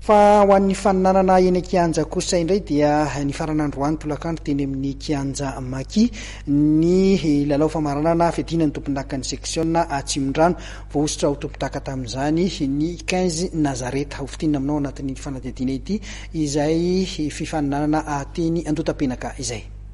Fa ho an'ny faninanana eny an-kianja kosa indray dia nifarana androany tolakandro teny amin'ny kianja Maki ny lalao famaranana fiadiana ny tompondakan'ny seksiona Atsimondrano. Voahosotra ho tompondaka tamin'izany ny quinze Nazareth. Hofintinina aminao anatin'ity fanadihadiana ity izay fifaninanana teny Andotapenaka izay.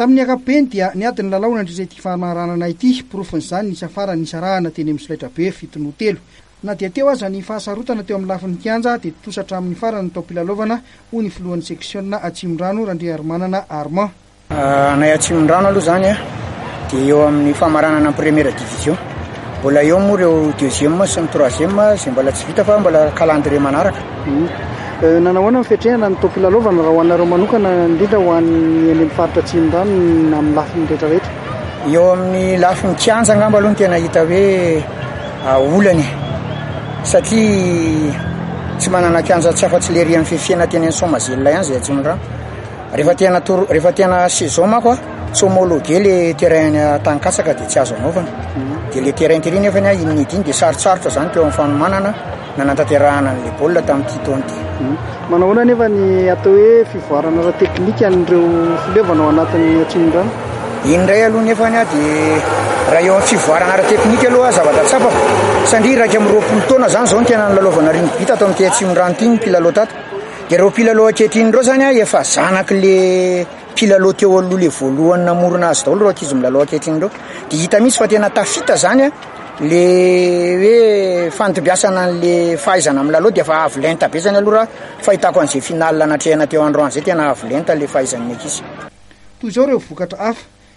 Tamin'ny ankapobeny dia niady ny lalao nandritra ity famaranana ity. Porofon'izany ny hisafaran'ny nisarahana teny amin'ny solaitrabe fito noho telo. Na dia teo aza ny fahasarotana teo amin'ny lafiny kianja dia tontosa hatramin'ny farany ny taom-pilalaovana, hoy ny filohan'ny seksiona Atsimondrano, Randriarimanana Armand. Anay Atsimondrano aloha izany a, dia eo amin'ny famaranana ny première division. Mbola eo moa ireo deuxième sy ny troisième izay mbola tsy vita fa mbola calendrier manaraka. Hmm. Eh, nanao ahoana ny fiatrehana ny toam-pilalaovana raha ho anareo manokana indrindra ho an'ny eny amin'ny faritra Atsimondrano na amin'ny lafiny rehetrarehetra? Eo amin'ny lafiny kianja angamba aloha ny tena hita hoe ah, olana e. satria tsy manana kianja tsy afa-tsy lery amin'ny fifiana teny amin'ny Soamazela ihany izay Atsimondrano. Rehefa te hanatoro, rehefa te hana saison manko a, tsy homologuer le terrain any Taninkatsaka dia tsy azo anaovana. Dia le terrain tery nefa ny ahy iny nety iny dia sarotsarotra zany teo amin'ny fanomanana nanantanterahana an'le baolina tamin'ity taona ity. Hmm. Manao ahoana nefa ny atao hoe fivoarana ara-teknika an'ireo filevana ao anatin'ny Atsimondrano? Iny indray aloha nefa ny ahy dia raha eo amin'ny fivoarana ara-teknika aloha zavatra tsapako satria iraika amby roapolo taona zany zao ny tena nilalaovana rugby tato amin'ity Atsimondrano ity ny mpilalao tato. Ireo mpilalao ankehitriny ireo zany a efa zanaky le mpilalao teo aloha le voalohany namorona azy daholo ireo ankizy milalao ankehitriny ireo de hita mihitsy fa tena tafita zany a le hoe fantombiasana an'le fahaizana milalao de efa avo lenta be zany aloha raha fahitako an'izay finale natrehina teo androany zay tena avo lenta le fahaizan'ny ankizy. Toy izao ireo vokatra hafa.